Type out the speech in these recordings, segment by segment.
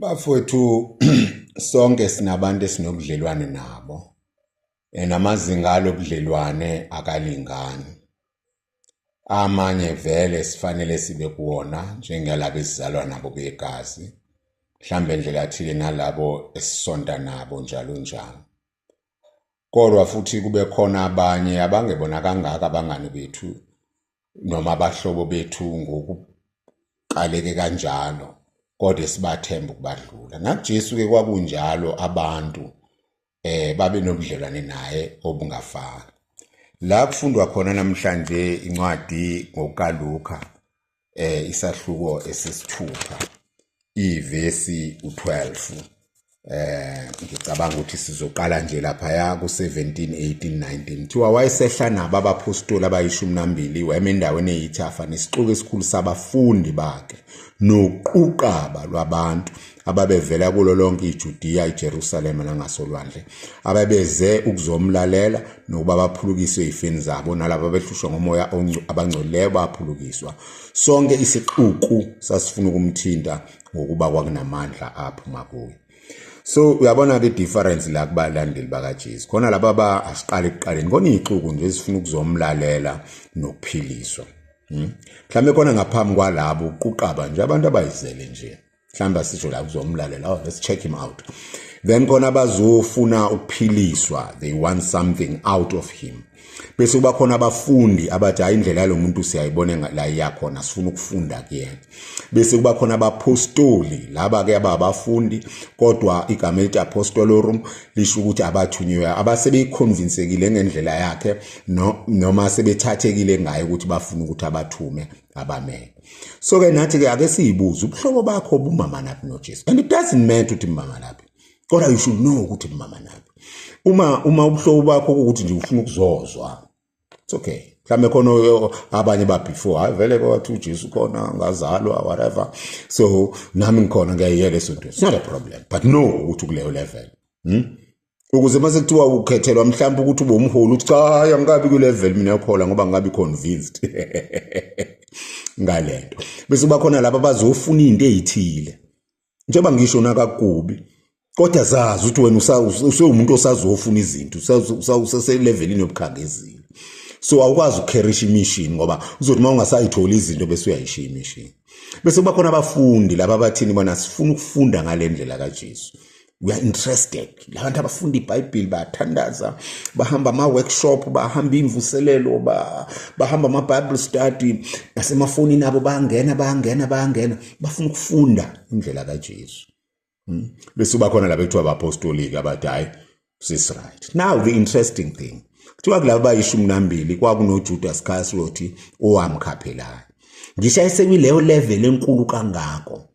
Bafowethu sonke sinabantu esinobudlelwane nabo and amazinga alobudlelwane akalingani. Amanye vele sifanele sibe kuwona njengalabo esizalwa nabo begazi, mhlawumbe ndlela thile nalabo esisonta nabo njalo njalo. kodwa futhi kube khona abanye abangebona kangaka abangani bethu noma abahlobo bethu ngokuqaleke kanjalo kodwa esibathemba ukubadlula nakuJesu-ke kwakunjalo abantu eh babe nobudlelwane naye obungafani la kufundwa khona namhlanje incwadi ngokaLuka eh isahluko esesithupha ivesi u12 eh ngicabanga ukuthi sizoqala nje lapha ya ku17 18 19 thiwa wayesehla nabo abapostoli abayishumi nambili wema endaweni eyithafa nesixuku esikhulu sabafundi bakhe noquqaba lwabantu ababevela kulo lonke iJudiya, iJerusalema nangasolwandle, ababeze ukuzomlalela nokuba baphulukiswe izifeni zabo, nalabo abehlushwa ngomoya abangcolileyo baphulukiswa. Sonke isixuku sasifuna ukumthinta ngokuba kwakunamandla aphuma kuye. So uyabona ke difference la kubalandeli bakaJesu. Khona laba ba asiqali kuqaleni, kona ixuku nje sifuna ukuzomlalela nokuphiliswa. Hmm? Mhlambe kona ngaphambi kwalabo uquqaba nje abantu abayizele nje. mhlawumbe asisho la kuzomlalela oh let's check him out then khona abazofuna ukuphiliswa they want something out of him bese kuba khona abafundi abathi hayi indlela yalo muntu siyayibona la iyakhona sifuna ukufunda kuyena bese kuba khona abapostoli laba ke ababafundi kodwa igama elithi apostolorum lisho ukuthi abathunywe abasebeyikhonvinsekile ngendlela yakhe noma sebethathekile ngayo ukuthi bafuna ukuthi abathume abamele so ke nathi ke ake siyibuze ubuhlobo bakho bumama naphi noJesu and it doesn't matter ukuthi mama naphi kodwa you should know ukuthi mama naphi uma uma ubuhlobo bakho ukuthi nje ufuna ukuzozwa it's okay mhlawumbe khona abanye ba before hayi vele kwathi uJesu khona ngazalwa whatever so nami ngikhona ngiyayiyeka esonto it's not a problem but no ukuthi kuleyo level hmm? ukuze uma sekuthiwa ukhethelwa mhlawumbe ukuthi ube umholi uthi cha angikabi kwi-level mina yokuhola ngoba ngikabi convinced ngale nto bese kuba khona laba bazofuna into eyithile njengoba ngisho nakakubi kodwa zazi ukuthi wena usewumuntu osazofuna izinto usaselevelini yobukhangezile so awukwazi ukukherisha imishini ngoba uzothi uma ungasayitholi izinto bese uyayishiya imishini bese kuba khona abafundi laba abathini bona sifuna ukufunda ngale ndlela kajesu we are interested labantu abafunda ibhayibheli bayathandaza bahamba ama-workshop bahamba imvuselelo bahamba ama-bible study nasemafonini abo bayangena bayangena bayangena bafuna ukufunda indlela kajesu hmm? bese uba khona laba ekuthiwa abapostoliki abathi hhayi sisright now the interesting thing kuthiwa kulaba bayishumi nambili kwakunojuda sikhasiloti owamkhaphelani ngisho esekwileyo level enkulu kangako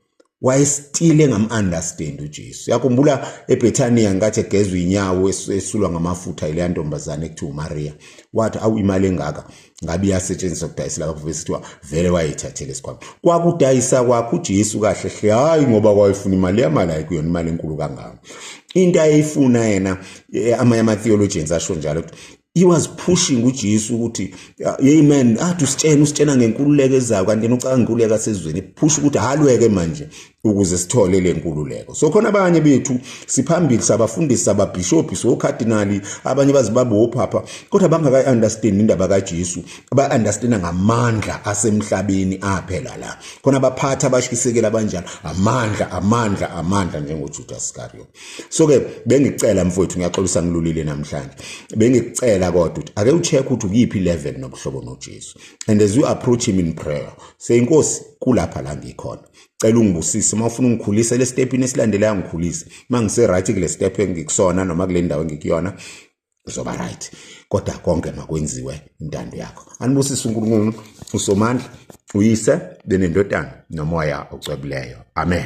wayesitile ngam-understand ujesu yakhumbula ebhethaniya nkathi egezwa inyawo esulwa ngamafutha yileya ntombazane ekuthiwa umariya wathi awu imali engaka ngabe iyasetshenziswa kudayisela abakuvele sithiwa vele wayeyithathele esikhwama kwakudayisa kwakho ujesu kahle hle hhayi ngoba kwayefuna imali yamali hayi kuyona imali enkulu kangako into ayeyifuna yena eh, amanye ama-theologians asho njalo ukuthi he was pushing uJesu ukuthi hey man athi usitshena usitshena ngenkululeko ezayo kanti yena ucanga inkululeko asezweni push ukuthi halweke manje ukuze sithole le nkululeko so khona abanye bethu siphambili sabafundisi sababhishophi sokhadinali abanye bazibaba ophapha kodwa bangakayi understand indaba kaJesu ba understand ngamandla asemhlabeni aphela la khona abaphatha abashisekela abanjalo amandla amandla amandla njengoJudas Iscariot so ke bengicela mfowethu ngiyaxolisa ngilulile namhlanje bengicela kodwa ukuthi ake ucheck ukuthi ukuyiphi level nobuhlobo noJesu and as you approach him in prayer say inkosi kulapha la ngikhona cela ungibusise uma ufuna ungikhulise le step ini esilandelayo ngikhulise uma ngise right kule step engikusona noma kule ndawo engikuyona uzoba right kodwa konke makwenziwe intando yakho anibusise uNkulunkulu usomandla uyise benendodana nomoya ocwebileyo amen